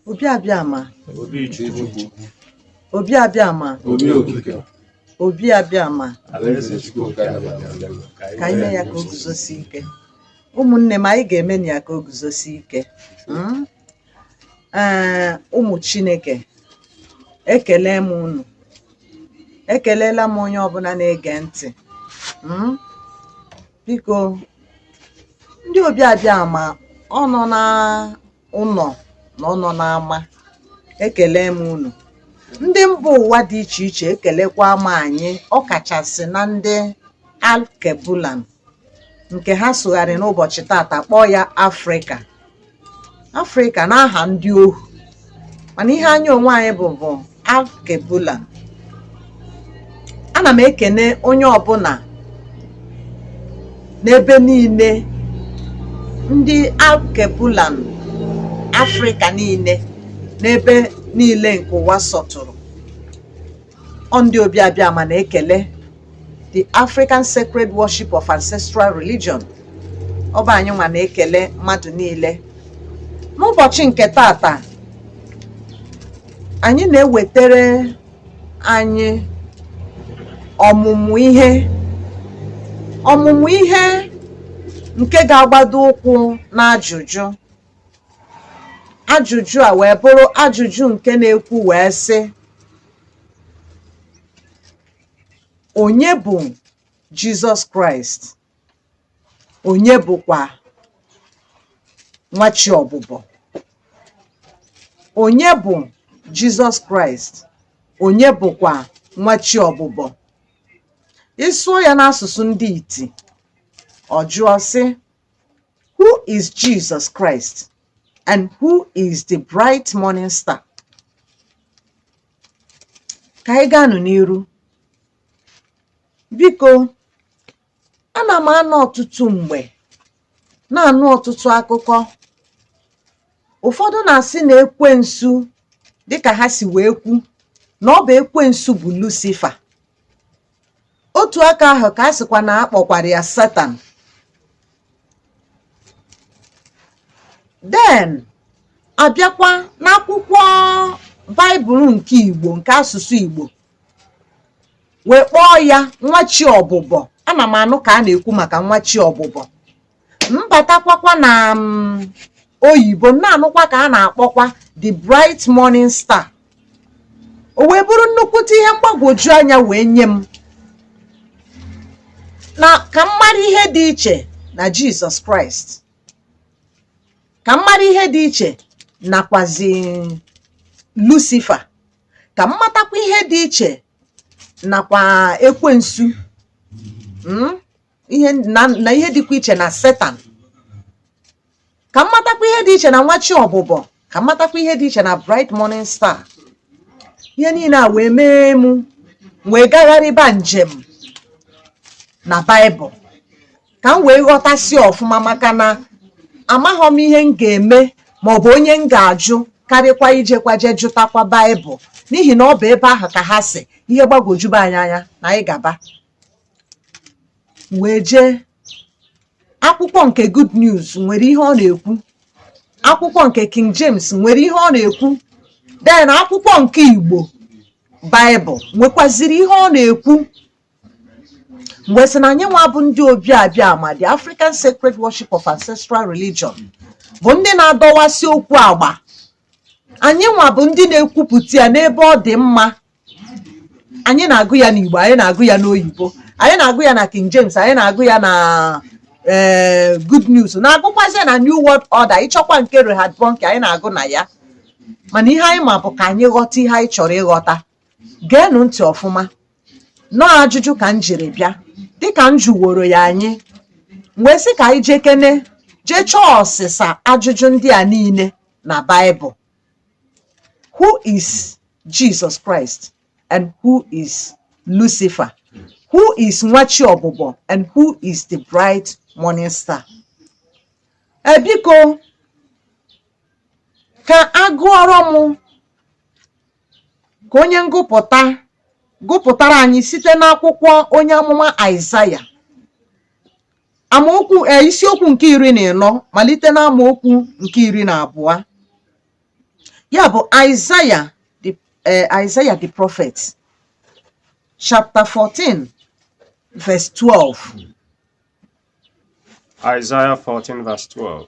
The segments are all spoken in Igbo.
Obi Abịama obi Chukwu Obi Abịama obi okike Obi Abịama alaeze Chukwu nke a na-abịa abịa. ka anyị mee ya ka o guzosie ike ụmụnne m anyị ga-emenụ ya ka o guzosie ike Mm? Ee, ụmụ chineke ekele m unu ekelela m onye ọbụla na-ege ntị Mm? biko ndị Obi Abịama ọ nọ na ụlọ na ọ nọ n'ama ekele m unu ndị mba ụwa dị iche iche ekelekwa m anyị ọ kachasị na ndị alkebulan nke ha sụgharị n'ụbọchị tata kpọọ ya afrịka afrịka n'aha ndị ohu mana ihe anyị onwe anyị bụ bụ alkebulan ana m ekene onye ọbụla n'ebe niile ndị alkebulan afrịka niile n'ebe niile nke ụwa sọtụrụ Ọ ndị Obi Abịama na-ekele the African Sacred Worship of Ancestral Religion ọ bụ anyị nwa na-ekele mmadụ niile n'ụbọchị nke tata anyị na-ewetere anyị ọmụmụ ihe ọmụmụ ihe nke ga-agbado ụkwụ n'ajụjụ ajụjụ a wee bụrụ ajụjụ nke na-ekwu wee sị onye bụ jizọs kraịst onye bụkwa nwa chi ọbụbọ onye bụ jizọs kraịst onye bụkwa nwa chi ọbụbọ ị sụọ ya n'asụsụ ndị iti ọ jụọ sị Who is Jesus Christ and who is the bright morning star? Ka anyị gaanụ n'iru. Biko, ana m anọ ọtụtụ mgbe na-anụ ọtụtụ akụkọ ụfọdụ na-asị na ekwensu dịka ha si wee kwu na ọ bụ ekwensu bụ Lucifer otu aka ahụ ka a sịkwa na a kpọkwara ya satan then a bịakwa n'akwụkwọ baịbụl nke igbo nke asụsụ igbo wee kpọọ ya nwa chi ọbụbọ ana m anụ ka a na-ekwu maka nwa chi ọbụbọ m batakwakwa na mm, oyibo m na-anụkwa ka a na-akpọkwa the bright morning star o wee bụrụ nnukwute ihe mgbagwoju anya wee nye m na ka m mara ihe dị iche na jizọs kraịst ka m mara ihe dị iche nakwazi lusifa ka m matakwa ihe dị iche nakwa ekwensu na ihe dịkwa iche na setan ka m matakwa ihe dị iche na nwa chi ọbụbọ ka m matakwa ihe dị iche na bright morning star ihe niile a wee mee m wee gagharịba njem na baịbụl ka m wee ghọtasịa ọfụma maka na amaghọ m ihe m ga-eme ma ọ bụ onye m ga-ajụ karịkwa ijekwa je jụtakwa baịbụl n'ihi na ọ bụ ebe ahụ ka ha sị ihe gbagwojuba anyị anya na anyị gaba m wee jee akwụkwọ nke Good News nwere ihe ọ na-ekwu akwụkwọ nke King James nwere ihe ọ na-ekwu then akwụkwọ nke Igbo Baịbụl nwekwaziri ihe ọ na-ekwu m wee sị na anyị nwa bụ ndị Obi Abịama the African Sacred Worship of Ancestral Religion bụ ndị na-adọwasị okwu agba anyị nwa bụ ndị na-ekwupụta ya n'ebe ọ dị mma anyị na-agụ ya n'Igbo anyị na-agụ ya n'oyibo anyị na-agụ ya na King James anyị na-agụ ya na ee eh, good news na-agụkwazị na new world order ị chọkwa nke Reinhard Bonnke anyị na-agụ na ya mana ihe anyị ma bụ ka anyị ghọta ihe anyị chọrọ ịghọta geenụ ntị ọfụma nọọ ajụjụ ka m jiri bịa dịka m jụworo ya anyị wee sị ka anyị jekene jee chọọ ọsịsa ajụjụ ndị a niile na Baịbụl Who is Jesus Christ and who is Lucifer? Who is nwa chi ọbụbọ and who is the bright morning star? E biko ka a gụọrọ m ka onye ngụpụta gụpụtara anyị site n'akwụkwọ onye amụma Aịzaya amaokwu e, isiokwu nke iri na ịnọ malite na amaokwu nke iri na abụọ ya bụ Aịzaya the eh, Isaiah the prophet chapter 14 verse 12 Isaiah 14 verse 12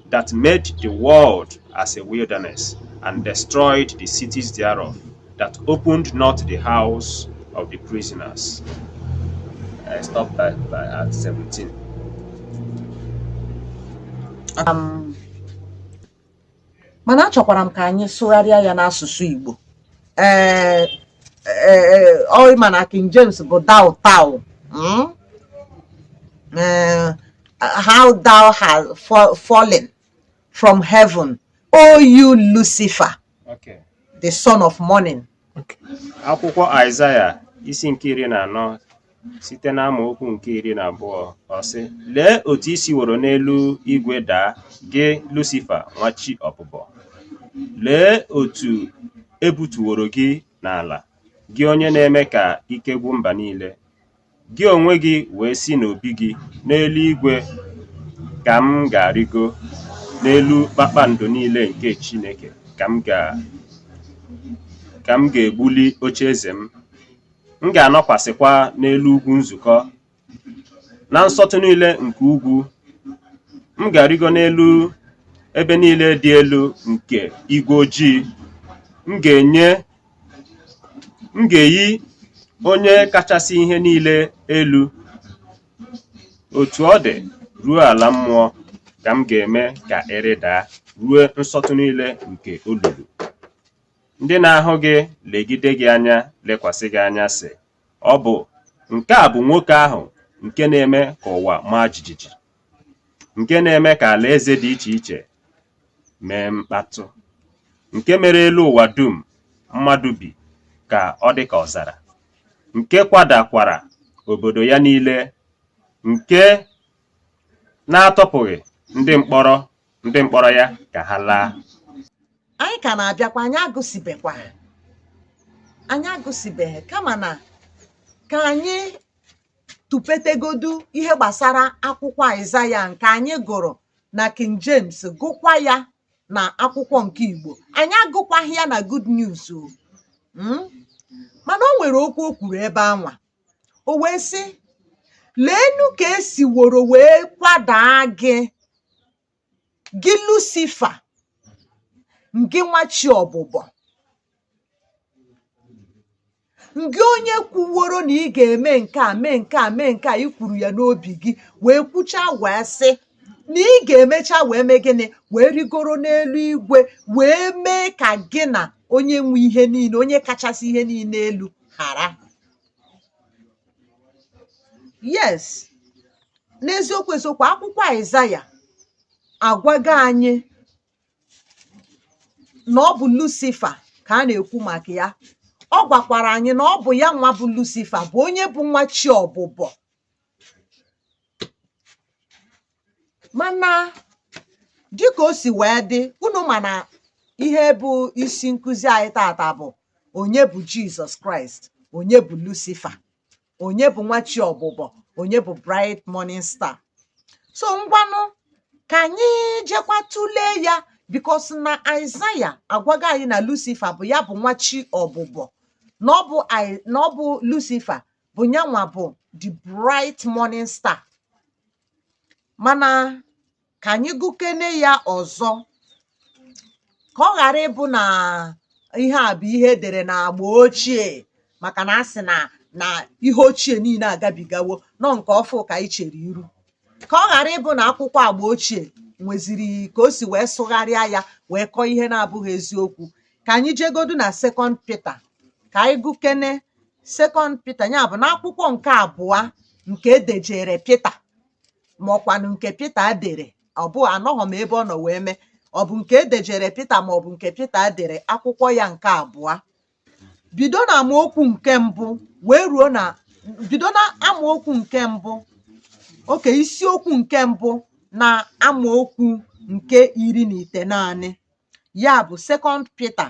that made the world as a wilderness, and destroyed the cities thereof, that opened not the house of the prisoners. I stopped by, by at 17. Um, mana achọkwara m ka anyị sụgharịa ya n'asụsụ Igbo ee ọ ma na King James bụ thou thou hmm? how thou hast fa- fallen from heaven, O you Lucifer, Okay. the son of morning. akwụkwọ aịzaya isi nke iri na anọ site n'amaokwu nke iri na abụọ ọ sị lee otu i siworo n'elu igwe daa gị lusifa nwa chi ọbụbọ lee otu e butuworo gị n'ala gị onye na-eme ka ike gwụ mba niile Gị onwe gị wee sị n'obi gị, N'eluigwe ka m ga-arịgo, n'elu kpakpando niile nke Chineke ka m ga ka m ga-egbuli oche eze m. M ga-anọkwasịkwa n'elu ugwu nzukọ, na nsọtụ niile nke ugwu. M ga-arịgo n'elu ebe niile dị elu nke igwe ojii. M ga-enye m ga-eyi onye kachasị ihe niile elu otu ọ dị ruo ala mmụọ ka m ga-eme ka ị rịdaa ruo nsọtụ niile nke olulu ndị na-ahụ gị legide gị anya lekwasị gị anya sị ọ bụ nke a bụ nwoke ahụ nke na-eme ka ụwa maa jijiji nke na-eme ka alaeze dị iche iche mee mkpatụ nke mere elu ụwa dum mmadụ bi ka ọ dị ka ọzara nke kwadakwara obodo ya niile nke na-atọpụghị ndị mkpọrọ ndị mkpọrọ ya ka ha laa anyị ka na-abịakwa anyị agụsịbekwa anyị agụsịbeghị kama na ka anyị tụpụtagodu ihe gbasara akwụkwọ Aịzaya nke anyị gụrụ na King James gụkwa ya na akwụkwọ nke Igbo anyị agụkwaghị ya na Good News o hmm? mana o nwere okwu o kwuru ebe anwa o wee sị leenụ ka e siworo wee kwadaa gị gị lusifa ngị nwa chi ọbụbọ ngị onye kwuworo na ị ga-eme nke a mee nke a mee nke a i kwuru ya n'obi gị wee kwuchaa wee sị na ị ga-emecha wee mee gịnị wee rịgoro n'elu igwe wee mee ka gị na onye nwe ihe niile onye kachasị ihe niile elu hara yes n'eziokwu eziokwu akwụkwọ aịzaya agwago anyị na ọ bụ lucifa ka a na-ekwu maka ya ọ gwakwara anyị na ọ bụ ya nwa bụ lucifa bụ onye bụ nwa chi ọbụbọ mana dịka o si wee dị unu ma na ihe bụ isi nkụzi anyị tata bụ onye bụ jizọs kraịst onye bụ lucifa onye bụ nwa chi ọbụbọ onye bụ bright morning star so ngwanụ ka anyị jekwa tụlee ya because na aịzaya agwago anyị na lucifa bụ ya bụ nwa chi ọbụbọ na ọ bụ Ai- na ọ bụ lucifa bụ nyanwa bụ the bright morning star mana ka anyị gụkene ya ọzọ ka ọ ghara ịbụ na ihe a bụ ihe e dere na agba ochie maka na a sị na na ihe ochie niile agabigawo na ọ nke ọfụụ ka anyị chere iru ka ọ ghara ịbụ na akwụkwọ agba ochie nweziri ka o si wee sụgharịa ya wee kọọ ihe na-abụghị eziokwu ka anyị jegodu na second peter ka anyị gụkene second Peter ya bụ n'akwụkwọ nke abụọ nke e dejere Pita ma ọkwanụ nke Pita dere ọ bụ anọghị m ebe ọ nọ wee mee ọ bụ nke e dejere Pita ma ọ bụ nke Pita dere akwụkwọ ya nke abụọ bido na amaokwu nke mbụ wee ruo na bido na amaokwu nke mbụ okay isiokwu nke mbụ na amaokwu nke iri na itenaanị ya bụ second Peter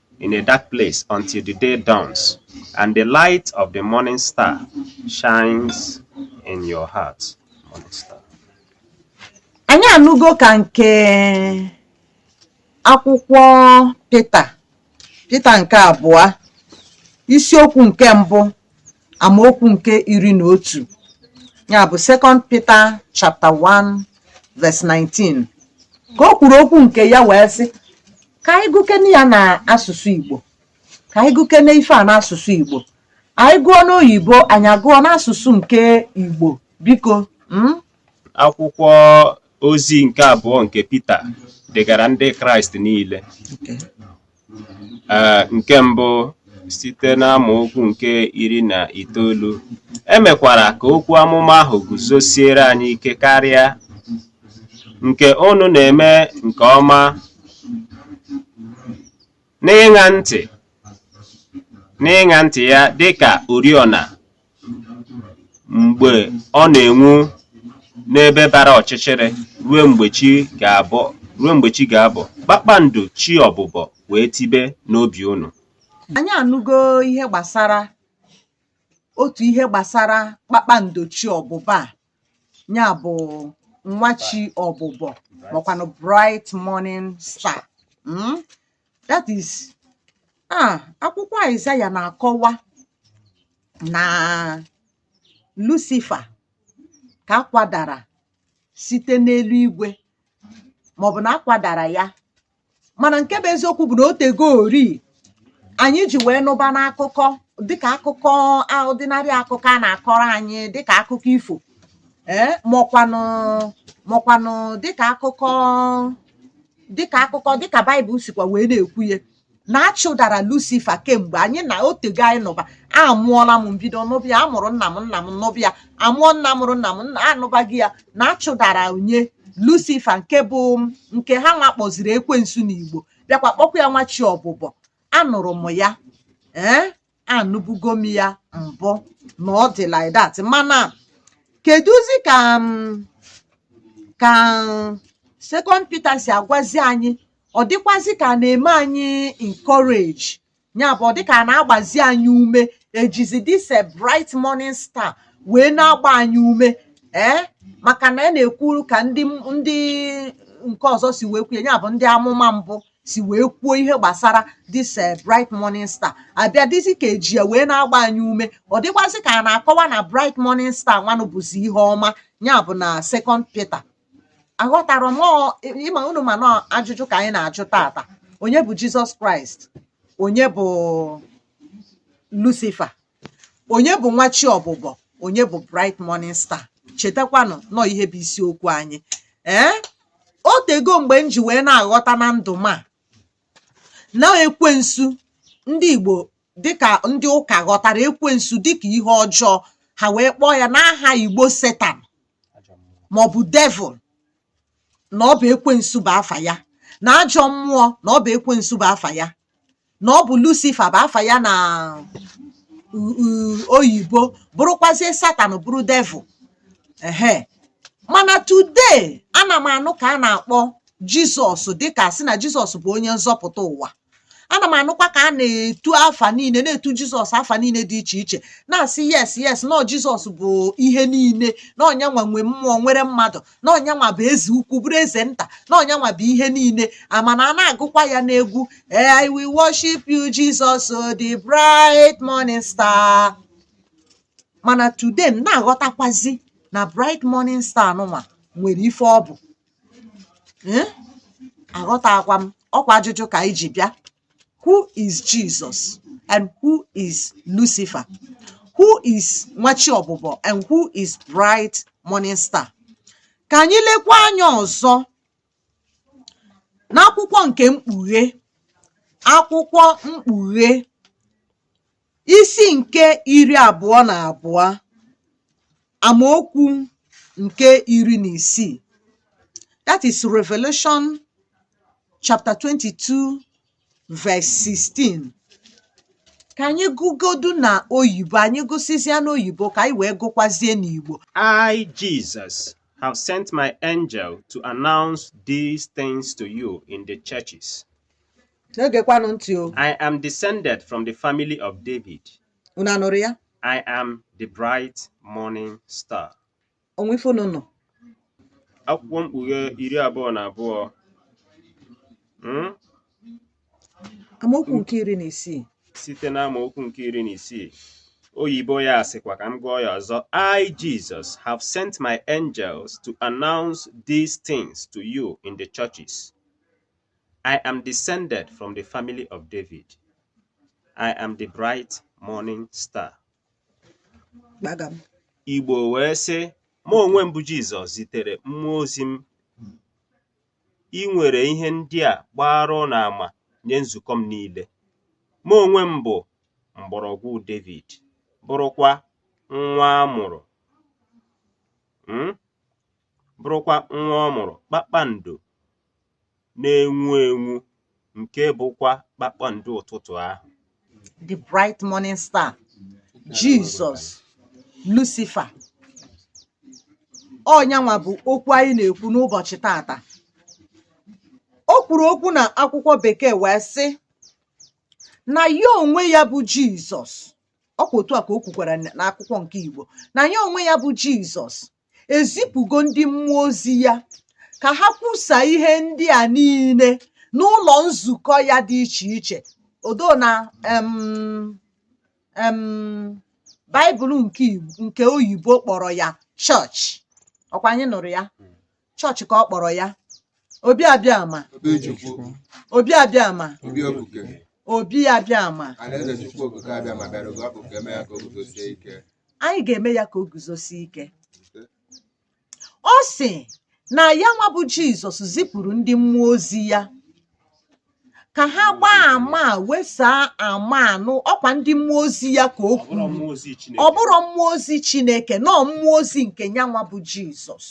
in a dark place until the day dawns, and the light of the morning star shines in your heart. Morning star. anyị anụgo ka nke akwụkwọ pita pita nke abụọ isiokwu nke mbụ amaokwu nke iri na otu ya bụ second peter chapter 1 verse 19 ka o kwuru okwu nke ya wee sị ka anyị gụkene ya na asụsụ igbo ka anyị gụkene ife a n'asụsụ igbo anyị gụọ n'oyibo anyị agụọ n'asụsụ nke igbo biko mm? akwụkwọ ozi nke abụọ nke Pita degara ndị Kraịst niile ee nke mbụ site n'amaokwu nke iri na itoolu e mekwara ka okwu amụma ahụ guzosiere anyị ike karịa nke unu na-eme nke ọma n'ịṅa ntị n'ịṅa ntị ya dị ka oriọna mgbe ọ na-enwu n'ebe bara ọchịchịrị ruo mgbe chi ga-abọ kpakpando chi ọbụbọ wee tibe n'obi unu anyị anụgo ihe gbasara otu ihe gbasara kpakpando chi ọbụbọ a ya bụ nwa chi ọbụbọ makwanụ bright morning star mm? that is ah akwụkwọ Aịzaya na-akọwa na Lucifer ka akwadara site n'eluigwe maọbụ na akwadara ya mana nke bụ eziokwu bụ na o tego ori anyị ji wee nụba n'akụkọ dịka akụkọ ọdịnanị akụkọ a na-akọrọ anyị dịka akụkọ ifo ee eh, mọkwanụ mọkwanụ dịka akụkọ dịka akụkọ dịka baịbụl sikwa wee na-ekwu ya na achụdara lucifa kemgbe anyị na o tego anyị nụba amụọla m m bido nụba ya amụrụ nna m nna m nụba ya amụọ nna mụrụ nna m anụbago ya na achụdara onye lucifa nke bụ nke ha nwa kpọziri ekwensu n'igbo bịakwa kpọkwa ya nwa chi ọbụbọ anụrụ m ya ee anụbugo m ya mbụ na ọ dị like that mana kedụzi ka m ka second Peter si agwazi anyị ọ dịkwazi ka a na-eme anyị encourage ya bụ ọ dịka a na-agbazi anyị ume ejizi this ah bright morning star wee na-agba anyị ume ee maka na a na-ekwuru ka ndị ndị nke ọzọ si wee kwuo ya ya bụ ndị amụma mbụ si wee kwuo ihe gbasara this eh, bright morning star ọ bịa dịzi ka eji ya wee na-agba anyị ume ọ dịkwazi ka a na-akọwa na bright morning star nwanụ bụzi ihe ọma ya bụ na second Peter aghọtarọ m ị ma unu ma na ọ ajụjụ ka anyị na-ajụ tata onye bụ jizọs kraịst onye bụ lucifa onye bụ nwa chi ọbụbọ onye bụ bright morning star chetakwanụ na ọ ihe bụ isiokwu anyị ee eh? o tego mgbe m ji wee na-aghọta na ndụ m a na ekwensu ndị igbo dịka ndị ụka ghọtara ekwensu dịka ihe ọjọọ ha wee kpọọ ya n'aha igbo satan maọbụ devil na ọ bụ ekwensu bụ afa ya na ajọ mmụọ na ọ bụ ekwensu bụ afa ya na ọ bụ lucifa bụ afa ya na oyibo bụrụkwazie satan bụrụ devil ehe mana today ana m anụ ka a na-akpọ jizọs dịka sị na jizọs bụ onye nzọpụta ụwa ana m anụkwa ka a na-etu afa niile na-etu jizọs afa niile dị iche iche na-asị yes yes na jizọs bụ ihe niile na ọnyanwa nwe mmụọ nwere mmadụ na ọnyanwa bụ eze ukwu bụrụ eze nta na ọnyanwa bụ ihe niile amana a na-agụkwa ya n'egwu eh, i will worship you jesus oh, the bright morning star mana today m na-aghọtakwazi na bright morning star nụnwa nwere ife ọ bụ eh? aghọtakwa m ọkwa ajụjụ ka anyị ji bịa who is Jesus and who is Lucifer who is nwa chi ọbụbọ and who is bright morning star ka anyị lekwa anya ọzọ n'akwụkwọ nke mkpughe akwụkwọ mkpughe Isi nke iri abụọ na abụọ amaokwu nke iri na isii that is Revelation chapter 22 verse 16 ka anyị gụgodu na oyibo anyị gụsịzịa n'oyibo ka anyị wee gụkwazie n'Igbo I Jesus have sent my angel to announce these things to you in the churches. na-egekwanụ ntị o I am descended from the family of David. unu anụrụ ya I am the bright morning star. o nwe ife unu nụ Akwụkwọ mkpughe iri abụọ na abụọ. Mm? amaokwu nke iri na isii site n'amaokwu nke iri na isii oyibo ya sịkwa ka m gụọ ya ọzọ i jesus have sent my angels to announce these things to you in the churches I am descended from the family of David. I am the bright morning star. Igbo wee sị, mụ onwe m bụ Jizọs zitere mmụọ ozi m iwere ihe ndị a gbaara ụnụ ama nye nzukọ m niile. Mụ onwe m bụ mgbọrọgwụ Devid, bụrụkwa nwa a mụrụ hmm? bụrụkwa nwa ọ mụrụ kpakpando na-enwu enwu nke bụkwa kpakpando ụtụtụ ahụ the bright morning star jizọs lucifa ọnyanwa bụ okwu anyị na-ekwu n'ụbọchị taata o kwuru okwu na akwụkwọ bekee wee sị na ya onwe ya bụ jizọs ọkwa otu a ka o kwukwara n'akwụkwọ nke igbo na ya onwe ya bụ jizọs ezipụgo ndị mmụọ ozi ya ka ha kwusa ihe ndị a niile n'ụlọ nzukọ ya dị iche iche although na em em baịbụl nke Igbo- nke oyibo kpọrọ ya chọọchị ọkwa anyị nụrụ ya chọọchị ka ọ kpọrọ ya obi abịama obi ejikwu obi abịama obi obuke obi abịama alaeze chukwu okike abịama bịara oge ọ bụ ka eme ya ka o guzosie ike anyị ga-eme ya ka o guzosie ike ọ sị na ya nwa bụ jizọs zipụrụ ndị mmụọ ozi ya ka ha gbaa ama wesaa ama anụ ọkwa ndị mmụọ ozi ya ka o kwuru ọ bụrọ mmụọ ozi chineke na ọ mmụọ ozi nke ya nwa bụ jizọs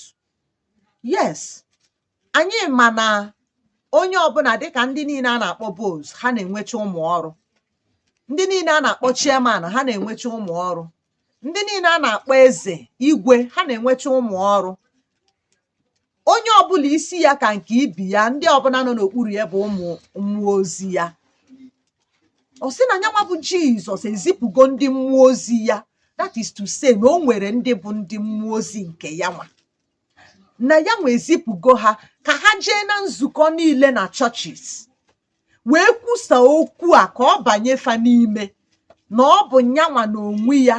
yes anyị ma na onye ọbụla dịka ndị niile a na-akpọ boss ha na-enwecha ụmụ ọrụ ndị niile a na-akpọ chairman ha na-enwecha ụmụ ọrụ ndị niile a na-akpọ eze igwe ha na-enwecha ụmụ ọrụ onye ọbụla isi ya ka nke ibe ya ndị ọbụla nọ n'okpuru ya bụ ụmụ ozi ya ọ sị na nyanwa bụ jizọs ezipụgo ndị mmụọ ozi ya that is to say na o nwere ndị bụ ndị mmụọ ozi nke ya nwa na ya nwa ezipụgo ha ka ha jee na nzukọ niile na churches wee kwusa okwu a ka ọ banye fa n'ime na ọ bụ nyanwa na onwe ya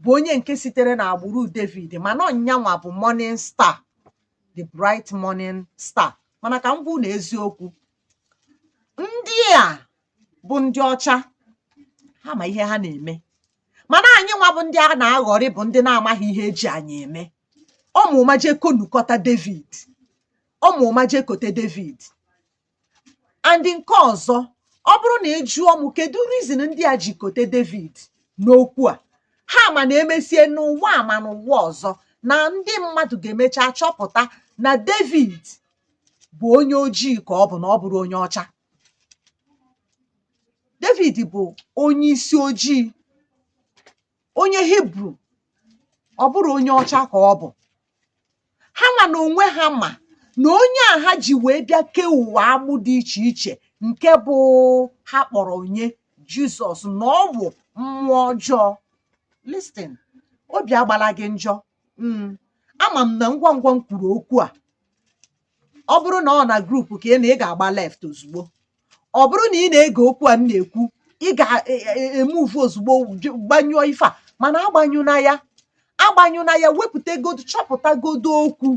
bụ onye nke sitere na agbụrụ david ma na ọ nyanwa bụ morning star the bright morning star mana ka m gwa unu eziokwu ndị a bụ ndị ọcha ha ma ihe ha na-eme mana anyị nwa bụ ndị a na-aghọri bụ ndị na-amaghị ihe eji anyị eme ọ ma ụma jee konukọta David ọ ma ụma jee kote David and nke ọzọ ọ bụrụ na ị jụọ m kedu reason ndị a ji kote David n'okwu a ha ma na emesie n'ụwa a ma n'ụwa ọzọ na ndị mmadụ ga-emecha chọpụta na David bụ onye ojii ka ọ bụ na ọ bụrọ onye ọcha David bụ onye isi ojii onye Hibru ọ bụrọ onye ọcha ka ọ bụ ha nwa na onwe ha ma na onye a ha ji wee bịa kee ụwa agbụ dị iche iche nke bụ ha kpọrọ onye Jizọs na ọ bụ mmụọ ọjọọ listen obi agbala gị njọ mm, ama m na ngwa ngwa m kwuru okwu a ọ bụrụ na ọ na group ka ị nọ ị ga-agba left ozugbo ọ bụrụ na ị na-ege okwu a m na-ekwu ị ga-emove ozugbo ju- gbanyụọ ife a mana agbanyụna ya agbanyụna ya wepụta godu chọpụta godu okwu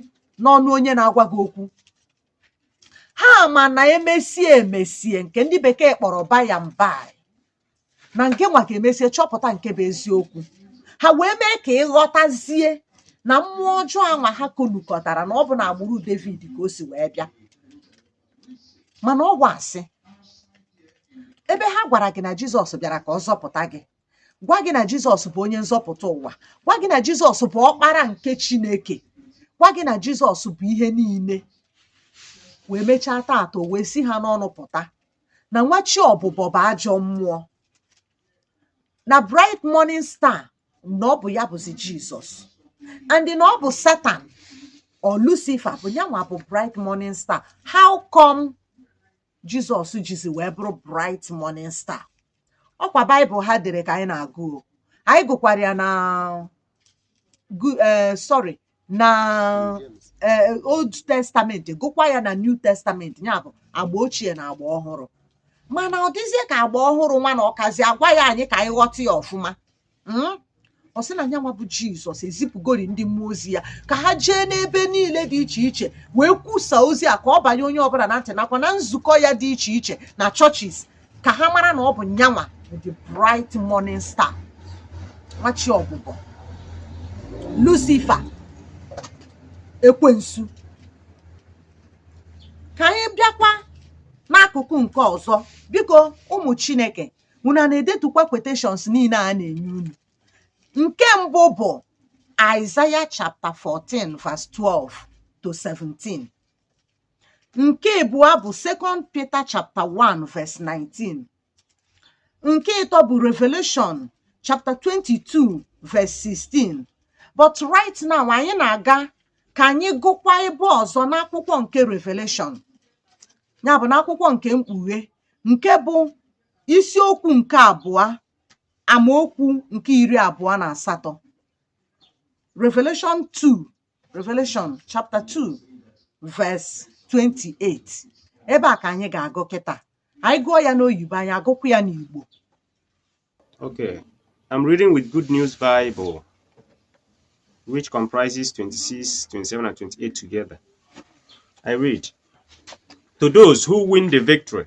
n'ọnụ onye na-agwa gị okwu ha ma na emesie emesie nke ndị bekee kpọrọ by and by na nke nwa ga-emesie chọpụta nke bụ eziokwu ha wee mee ka ị ghọtazie na mmụọ ọjọọ anwa ha konukọtara na ọ bụ n'agbụrụ David ka o si wee bịa mana ọ bụ asị ebe ha gwara gị na Jizọs bịara ka ọ zọpụta gị gwa gị na Jizọs bụ onye nzọpụta ụwa gwa gị na Jizọs bụ ọkpara nke Chineke gwa gị na Jizọs bụ ihe niile wee mechaa taata o wee si ha n'ọnụ pụta na nwa chi ọbụbọ bụ ajọ mmụọ na bright morning star na ọ bụ ya bụzi jizọs and na ọ bụ satan or lucifer bụ ya nwa bụ bright morning star how come jizọs jizi wee bụrụ bright morning star ọ kwa baịbụl ha dere ka anyị na-agụ anyị gụkwara ya na eh, sorry na eh, old testament gụkwa ya na new testament ya bụ agba ochie na agba ọhụrụ mana ọ dịzie ka agba ọhụrụ nwa na ọ kazi agwa ya anyị ka anyị ghọta ya ọfụma hmm? ọ sị na nyanwa bụ jizọs ezipụgori ndị mmụọ ozi ya ka ha jee n'ebe niile dị iche iche wee kwusa ozi a ka ọ banye onye ọbụla na ntị nakwa na nzukọ ya dị iche iche na churches ka ha mara na ọ bụ nyanwa the bright morning star nwa chi ọbụbọ lucifer ekwensu ka anyị bịakwa n'akụkụ nke ọzọ biko ụmụ chineke unu ana-edetukwa quotations niile a na-enye unu nke mbụ bụ Isaiah chapter 14 verse 12 to 17 nke abụọ bụ second Peter chapter 1 verse 19 nke ịtọ bụ Revelation chapter 22 verse 16 but right now anyị na-aga ka anyị gụkwa ebe ọzọ n'akwụkwọ nke Revelation ya bụ n'akwụkwọ nke mkpughe nke bụ isiokwu nke abụọ amaokwu nke iri abụọ na asatọ Revelation chapter 2 verse 28 ebe a ka anyị ga-agụ kịta anyị gụọ ya n'oyibo anyị agụkwu ya n'igbo Okay, I'm reading with Good News Bible, which comprises 26, 27, and 28 together. I read To those who win the victory,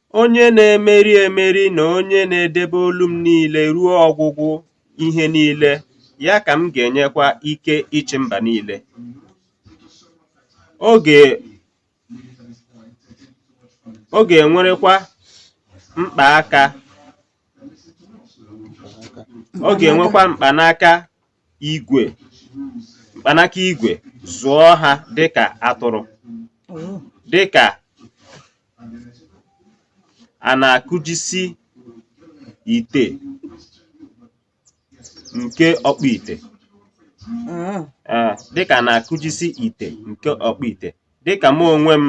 Onye na-emeri emeri na onye na-edebe ọlụ m niile ruo ọgwụgwụ ihe niile, ya ka m ga-enyekwa ike ịchị mba niile. Ọ ga-enwerekwa mkpanaka igwe mkpanaka igwe zụọ ha dịka atụrụ Oh. dịka a na-akụjisi ite nke ọkpụ ite Ah. Ee, dịka a na-akụjisi ite nke ọkpụ ite dịka mụ onwe m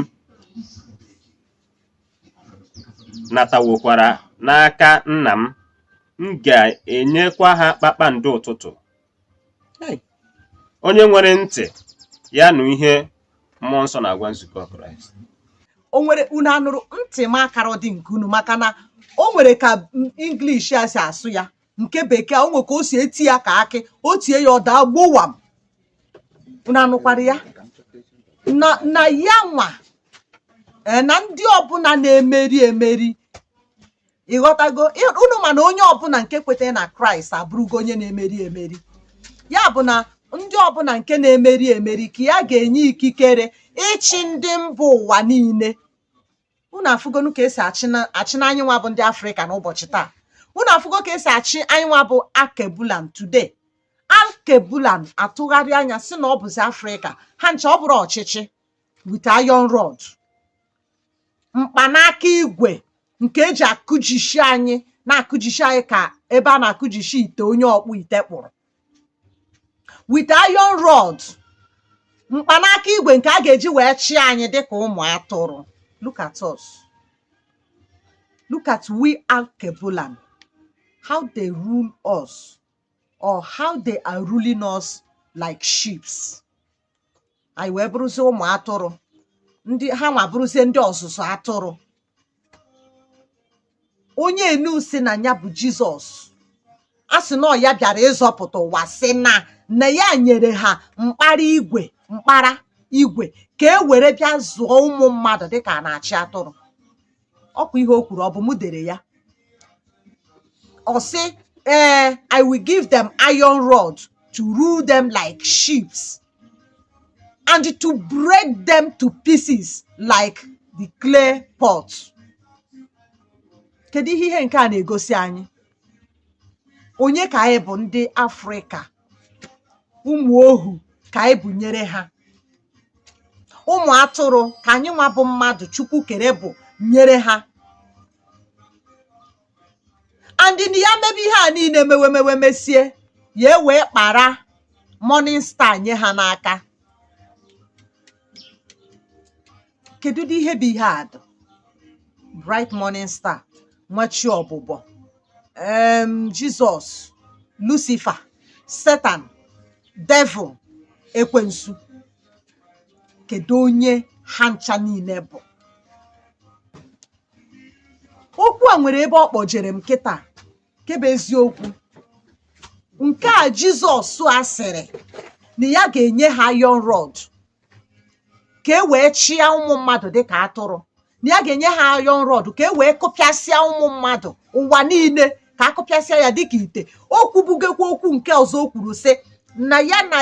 natawokwara n'aka nna m m ga-enyekwa ha kpakpando ụtụtụ Hey! onye nwere ntị ya nụ ihe mmụọ nsọ na-agwa nzukọ kraịst o nwere unu anụrụ ntị m akara dị nke unu maka na o nwere ka English a si asụ ya nke bekee a, o nwe ka o si eti ya ka akị o tie ya ọ daa gbowam unu anụkwara ya na na ya nwa ee, na ndị ọbụla na-emeri emeri ị ghọtago Ị- unu ma na onye ọbụla nke kwetara na kraịst abụrụgo onye na-emeri emeri ya bụ na ndị ọbụla nke na-emeri emeri ka ya ga-enye ikikere ịchị ndị mba ụwa niile unu afụgonụ ka e si achị na anyị nwa bụ ndị afrịka n'ụbọchị taa unu afụgo ka e si achị anyị nwa bụ akebulan today akebulan atụgharị anya sị na ọ bụzi afrịka ha ncha ọ bụrụ ọchịchị with iron rod mkpanaka igwe nke e ji akụjishi anyị na-akụjishi anyị ka ebe a na-akụjishi ite onye ọkpụ ite kpụrụ with iron rod mkpanaka igwe nke a ga-eji wee chịa anyị dịka ụmụ atụrụ look at us look at we alkebulan how they rule us or how they are ruling us like sheeps anyị wee bụrụzie ụmụ atụrụ ndị ha nwa bụrụzie ndị ọzụzụ atụrụ onye unu sị na ya bụ jizọs a sị na ya bịara ịzọpụta ụwa sị na na ya nyere ha mkpara igwe mkpara igwe ka e were bịa zụọ ụmụ mmadụ dịka a na-achị atụrụ ọkwa ihe o kwuru ọ bụ mụ dere ya ọ sị ee eh, i will give them iron rod to rule them like sheep and to break them to pieces like the clay pot kedu ihe ihe nke a na-egosi anyị onye ka anyị bụ ndị afrịka ụmụ̀ ohù kà ànyị bụ̀ nyere ha ụmụ̀ atụrụ kà ànyị nwa bụ̀ mmadụ̀ chukwu kère bụ̀ nyere ha and na ya mebe ihe à niine mewe mewe mesie yà ewèe kpàra morning star nye ha n'aka kedudị ihe bụ ihe a dụ bright morning star nwa chi ọbụbọ em jizọs lucifer setan devil ekwensu kedu onye ha ncha niile bụ okwu a nwere ebe ọ kpọjere m kịta nke bụ eziokwu nke a jizọs a sịrị na ya ga-enye ha iron rod ka e wee chịa ụmụ mmadụ dịka atụrụ na ya ga-enye ha iron rod ka e wee kụpịasịa ụmụ mmadụ ụwa niile ka a kụpịasịa ya dịka ite o kwubugokwa okwu nke ọzọ o kwuru sị na ya na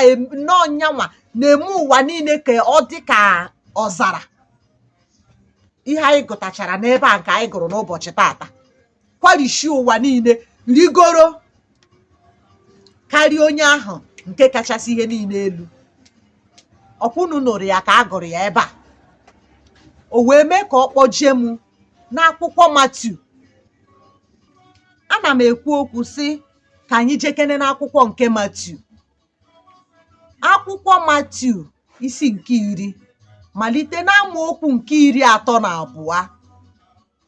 na ọ nyanwa na-eme ụwa niile ka ọ dị ka ọzara ihe anyị gụtachara n'ebe a nke anyị gụrụ n'ụbọchị taata kwarishi ụwa niile rigoro karịa onye ahụ nke kachasị ihe niile elu ọkwa unu nụrụ ya ka a gụrụ ya ebe a o wee mee ka ọ kpọje m n'akwụkwọ Matiu ana m ekwu okwu sị ka anyị jekene n'akwụkwọ nke Matiu akwụkwọ Matiu isi nke iri malite n'amaokwu nke iri atọ na abụọ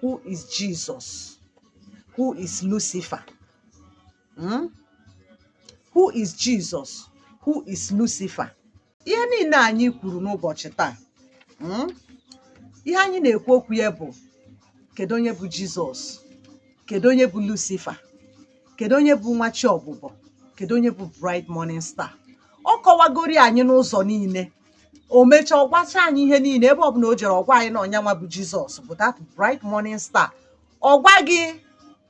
who is Jesus who is Lucifer hmm? who is Jesus who is Lucifer ihe niile anyị kwuru n'ụbọchị taa hmm? ihe anyị na-ekwu okwu ya bụ kedu onye bụ Jizọs kedu onye bụ Lucifer kedu onye bụ nwa chi ọbụbọ kedu onye bụ Bright Morning Star ọ kọwagori anyị n'ụzọ niile o mechaa ọ gwacha anyị ihe niile ebe ọbụla o jere ọ gwa anyị na ọ nyanwa bụ jizọs bụ that bright morning star ọ gwa gị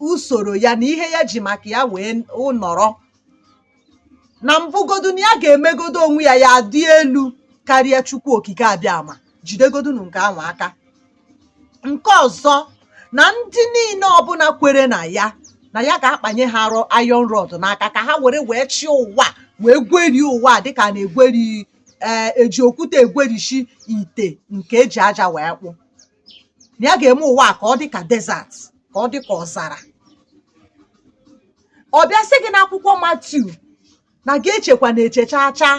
usoro ya na ihe ya ji maka ya wee nọrọ na mbụgodu na ya ga-emegodu onwe ya ya dị elu karịa chukwu okike abịama jidegodunu nke ahụ aka nke ọzọ na ndị niile ọbụla kwere na ya na ya ga-akpanye ha iron rod n'aka ka ha were wee chịa ụwa wee gwerie ụwa dịka a na-egweri ee eh, e ji okwute egwerishi ite nke e ji aja wee kpụ na ya ga-eme ụwa ka ọ dị ka desert ka ọ dị ka ọzara ọ bịa sị gị n'akwụkwọ Matiu na gị echekwana eche chaa chaa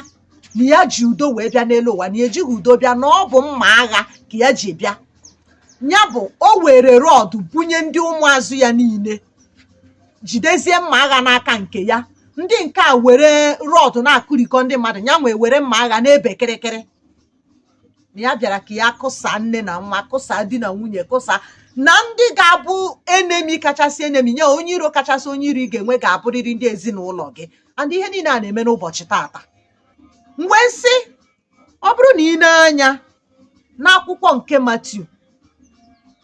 na ya ji udo wee bịa n'elu ụwa na ya ejighị udo bịa na ọ bụ mma agha ka ya ji bịa ya bụ o were rod bunye ndị ụmụazụ ya niile jidezie mma agha n'aka nke ya ndị nke a were rod na-akụrikọ ndị mmadụ yanwa ewere mma agha na-ebe kịrịkịrị na ya bịara ka ya kụsa nne na nwa kụsa di na nwunye kụsa na ndị ga-abụ enemi kachasị enemi nye onye iro kachasị onye iro ị ga-enwe ga-abụrịrị ndị ezinụlọ gị and ihe niile a na-eme n'ụbọchị tata mgbe nsị ọ bụrụ na ị nee anya n'akwụkwọ nke Matiu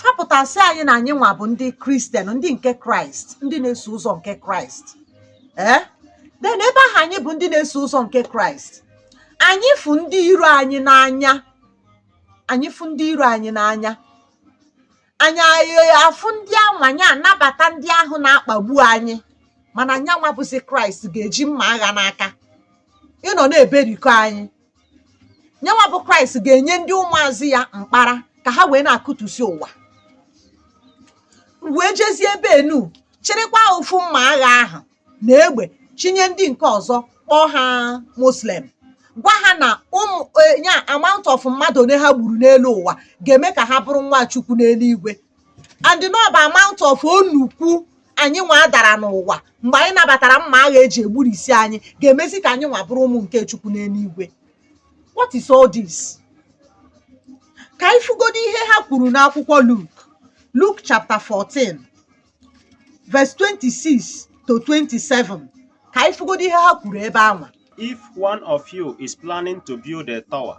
fapụtasị anyị na anyị nwa bụ ndị kristian ndị nke kraịst ndị na-eso ụzọ nke kraịst ee eh? then ebe ahụ anyị bụ ndị na-eso ụzọ nke kraịst anyị fụ ndị iro anyị n'anya anyị fụ ndị iro anyị n'anya anyị afụ ndị ahụ anyị anabata ndị ahụ na-akpagbu anyị mana nya nwa bụzi kraịst ga-eji mma agha n'aka ịnọ na-eberikọ anyị nya nwa bụ kraịst ga-enye ndị ụmụazụ ya mkpara ka ha wee na-akụtusi ụwa wee jezie ebe enu chịrịkwa ofu mma agha ahụ na egbe chinye ndị nke ọzọ kpọọ ha muslim gwa ha na ụmụ ya amount of mmadụ one ha gburu n'elu ụwa ga-eme ka ha bụrụ nwa chukwu n'eluigwe and na ọ bụ amount of onukwu anyị nwa dara n'ụwa mgbe anyị nabatara mma agha eji egburisi anyị ga-emezi ka anyị nwa bụrụ ụmụ nke chukwu n'eluigwe what is all this ka anyị fụgodo ihe ha kwuru n'akwụkwọ Luk Luk chapter 14 verse 26 to 27 ka anyị fụgodo ihe ha kwuru ebe anwa If one of you is planning to build a tower,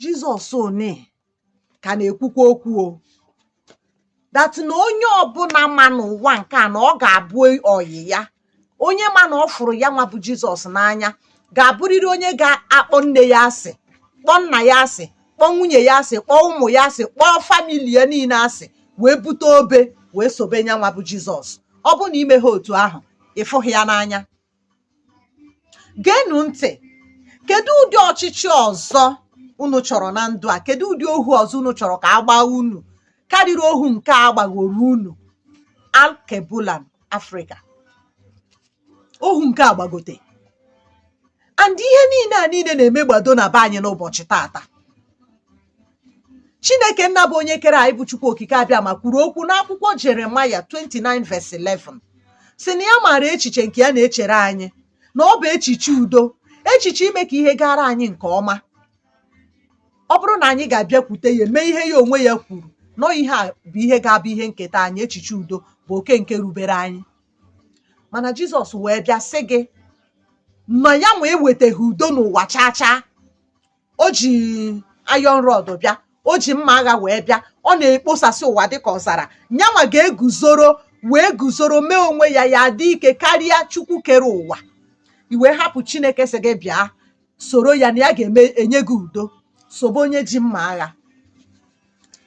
Jizọs unu ka na-ekwukwa okwu o that na onye ọbụla ma n'ụwa nke a na ọ ga-abụ ọyị ya onye ma na ọ fụrụ ya nwa bụ Jizọs n'anya ga-abụrịrị onye ga-akpọ nne ya asị kpọọ nna ya asị kpọọ nwunye ya asị kpọọ ụmụ ya asị kpọọ famili ya niile asị wee bute obe wee sobe ya nwa bụ Jizọs ọ bụrụ na i meghị otu ahụ ị fụghị ya n'anya geenụ ntị kedu ụdị ọchịchị ọzọ unu chọrọ na ndụ a kedu ụdị ohu ọzọ unu chọrọ ka a gbaa unu karịrị ohu nke a gbagoro unu alkebulan afrịka ohu nke a gbagote and ihe niile a niile na-emegbado na be anyị n'ụbọchị tata chineke nna bụ onye kere anyị bụ chukwu okike abịama kwuru okwu n'akwụkwọ jeremaya 29 verse 11 sị na ya maara echiche nke ya na-echere anyị na ọ bụ echiche udo echiche ime ka ihe gaara anyị nke ọma ọ bụrụ na anyị ga-abịakwute ya mee ihe ya onwe ya kwuru nọ ihe a bụ ihe ga-abụ ihe nketa anyị echiche udo bụ oke nke rubere anyị mana jizọs wee bịa sị gị na ya nwa ewetaghị udo n'ụwa chaa chaa o ji iron rod bịa o ji mma agha wee bịa ọ na-ekposasị ụwa dịka ọzara nyanwa ga-eguzoro wee guzoro mee onwe ya ya dị ike karịa chukwu kere ụwa ị wee hapụ chineke sị gị bịa soro ya na ya ga-enye gị udo sobe onye ji mma agha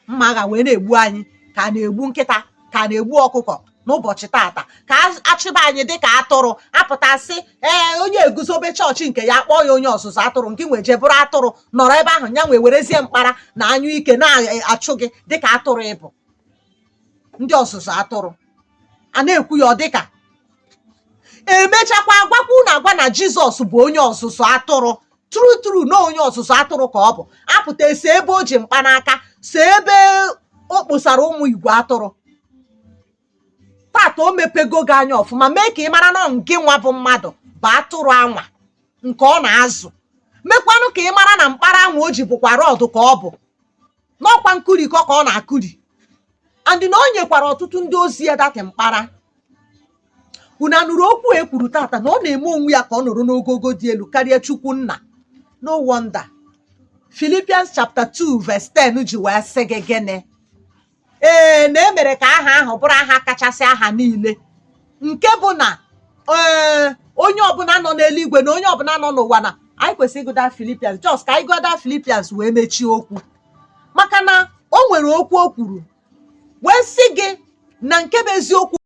mma agha wee na-egbu anyị ka a na-egbu nkịta ka a na-egbu ọkụkọ n'ụbọchị tata ka achịba anyị dị ka atụrụ apụtasị ee onye eguzobe chọọchị nke ya kpọọ ya onye ọzụzụ atụrụ ngị nwa jee bụrụ atụrụ nọrọ ebe ahụ ya nwa ewerezie mkpara na anyụike na-achụ gị dịka atụrụ ịbụ ndị ọzụzụ atụrụ a na-ekwu ya ọ dịka emechakwa agwakwa unu agwa na jizọs bụ onye ọzụzụ atụrụ true true na onye ọzụzụ atụrụ ka ọ bụ a pụta e see ebe o ji mkpanaka see ebe o kposara ụmụ igwe atụrụ tata o mepego gị anya ọfụma mee ka ị mara na ngị nwa bụ mmadụ bụ atụrụ anwa nke ọ na-azụ mekwanụ ka ị mara na mkpara anwa o ji bụkwa rod ka ọ bụ na ọ kwa nkụrikọ ka ọ na-akụri and na o nyekwara ọtụtụ ndị ozi ya that mkpara unu anụrụ okwu e kwuru tata na ọ na-eme onwe ya ka ọ nọrọ n'ogogo dị elu karịa chukwu nna no wonder Philippians chapter 2 verse 10 ji wee sị gị gịnị ee na e mere ka aha ahụ bụrụ aha kachasị aha niile nke bụ na ee eh, onye ọbụla nọ n'eluigwe na onye ọbụla nọ n'ụwa na anyị kwesịrị ịgụ that Philippians just ka anyị gụọ that Philippians wee mechie okwu maka na o nwere okwu o kwuru wee sị gị na nke bụ eziokwu